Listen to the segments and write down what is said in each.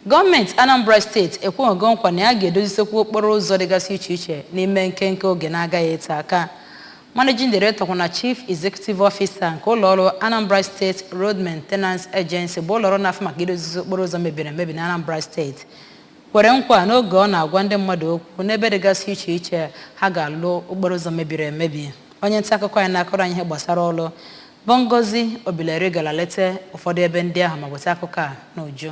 Gọọmenti Anambra steeti ekwego nkwa na ya ga-edozisekwu okporo ụzọ dịgasị iche iche n'ime nkenke oge na-agaghị ete aka. Managing Director kwa na Chief Executive Officer nke ụlọọrụ Anambra State Road Maintenance Agency bụ ụlọọrụ na-afụ maka idozizi okporo ụzọ mebiri emebi na Anambra steeti kwere nkwa n'oge ọ na-agwa ndị mmadụ okwu n'ebe dịgasị iche iche ha ga-alụ okporo ụzọ mebiri emebi. Onye nta akụkọ anyị na-akọrọ anyị ihe gbasara ọrụ Bụ Ngozi Obileri gara leta ụfọdụ ebe ndị ahụ ma weta akụkọ a n'uju.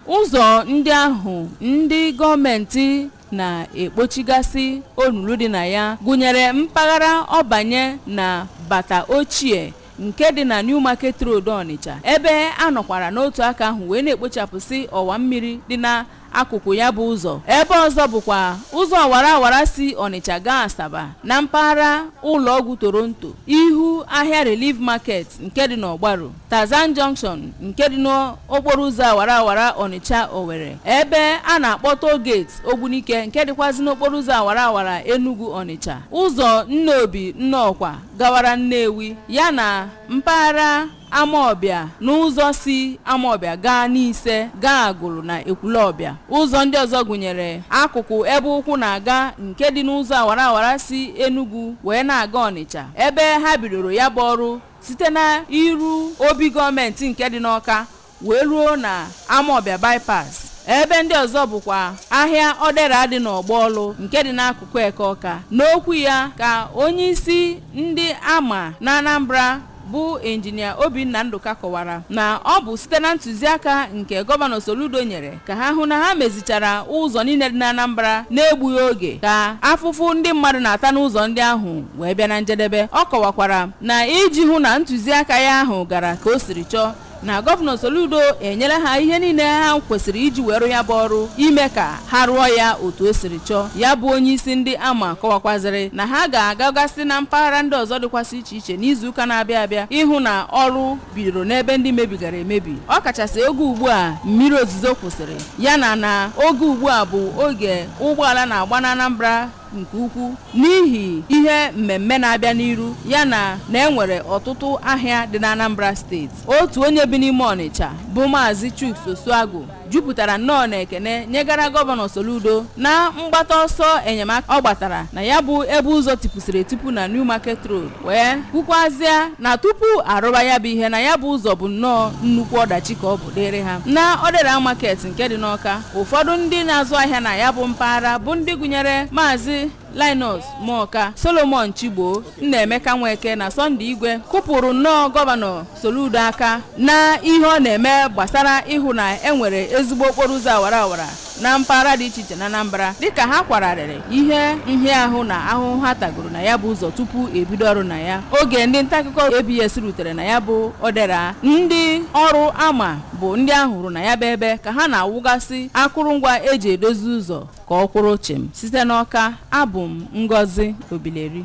Ụzọ ndị ahụ ndị gọọmentị na-ekpochigasị olulu dị na ya gụnyere mpaghara Ọbanye na Bata Ochie nke dị na New Market Road Ọnịcha ebe a nọkwara n'otu aka ahụ wee na-ekpochapụsị ọwa mmiri dị na akụkụ ya bụ ụzọ ebe ọzọ bụkwa ụzọ awara awara si Ọnịcha gaa Asaba na mpaghara ụlọọgwụ Toronto ihu ahịa Relief Market nke dị n'Ọgbaru Tarzan Junction nke dị n'okporo ụzọ awara awara Ọnịcha Owere ebe a na-akpọ toll gate Ogbunike nke dịkwazị n'okporo ụzọ awara awara Enugu Ọnịcha ụzọ Nnobi Nnọkwa gawara Nnewi yana mpaghara Amawbịa na ụzọ si Amawbịa gaa Nise gaa Agụlụ na Ekwulọbịa. Ụzọ ndị ọzọ gụnyere akụkụ ebe ụkwụ na-aga nke dị n'ụzọ awara awara si Enugwu wee na-aga Ọnịcha ebe ha bidoro ya bụ ọrụ site na iru obi gọọmenti nke dị n'Ọka wee ruo na Amawbịa Bypass ebe ndị ọzọ bụkwa ahịa Ọdera dị n'ọgbọ ọlụ nke dị n'akụkụ Eke Ọka n'okwu ya ka onyeisi ndị ARMA na Anambra bụ injinia Obinna Ndụka kọwara na ọ bụ site na ntụziaka nke gọvanọ Soludo nyere ka ha hụ na ha mezichara ụzọ niile dị n'Anambra na-egbughị oge ka afụfụ ndị mmadụ na-ata n'ụzọ ndị ahụ wee bịa na njedebe ọ kọwakwara na iji hụ na ntụziaka ya ahụ gara ka o siri chọọ na Gọvanọ Soludo enyere ha ihe niile ha kwesịrị iji wee rụ ya bụ ọrụ ime ka ha rụọ ya otu o siri chọọ ya bụ onye isi ndị ARMA kọwakwazịrị na ha ga-agagasị na mpaghara ndị ọzọ dịkwasị iche iche n'izuụka na-abịa abịa ịhụ na ọrụ bidoro n'ebe ndị mebigara emebi ọ kachasị oge ugbu a mmiri ozuzo kwụsịrị yana na oge ugbu a bụ oge ụgbọala na-agba na Anambra nke ukwu n'ihi ihe mmemme na-abịa n'iru ya na na e nwere ọtụtụ ahịa dị n'Anambra steeti otu onye bi n'ime Ọnịcha bụ Maazị Chuks Osuagwu jupụtara nnọọ na ekene nyegara gọvanọ Soludo na mgbata ọsọ enyemaka ọ gbatara na ya bụ ebe ụzọ tipusịrị etipu na New Market Road wee kwukwazịa na tupu a rụba ya bụ ihe na ya bụ ụzọ bụ nnọọ nnukwu ọdachi ka ọ bụ dịịrị ha na Odera Market nke dị n'Ọka ụfọdụ ndị na-azụ ahịa na ya bụ mpaghara bụ ndị gụnyere maazị Linus Muoka Solomon Chigbo Nnaemeka Nweke na Sunday Igwe kụpụrụ nnọọ gọvanọ Soludo aka na ihe ọ na-eme gbasara ịhụ na enwere ezigbo okporo ụzọ awara awara na mpaghara dị iche iche na Anambra dịka ha kwara arịrị ihe nhịahụ na ahụhụ ha tagoro na ya bụ ụzọ tupu ebido ọrụ na ya oge ndị ntaakụkọ ABS rutere na ya bụ Odera ndị ọrụ ARMA bụ ndị a hụrụ na ya bụ ebe ka ha na-awụgasị akụrụngwa eji edozi ụzọ ka ọ kwụrụ chịm site n'Ọka abụ m Ngozi Obileri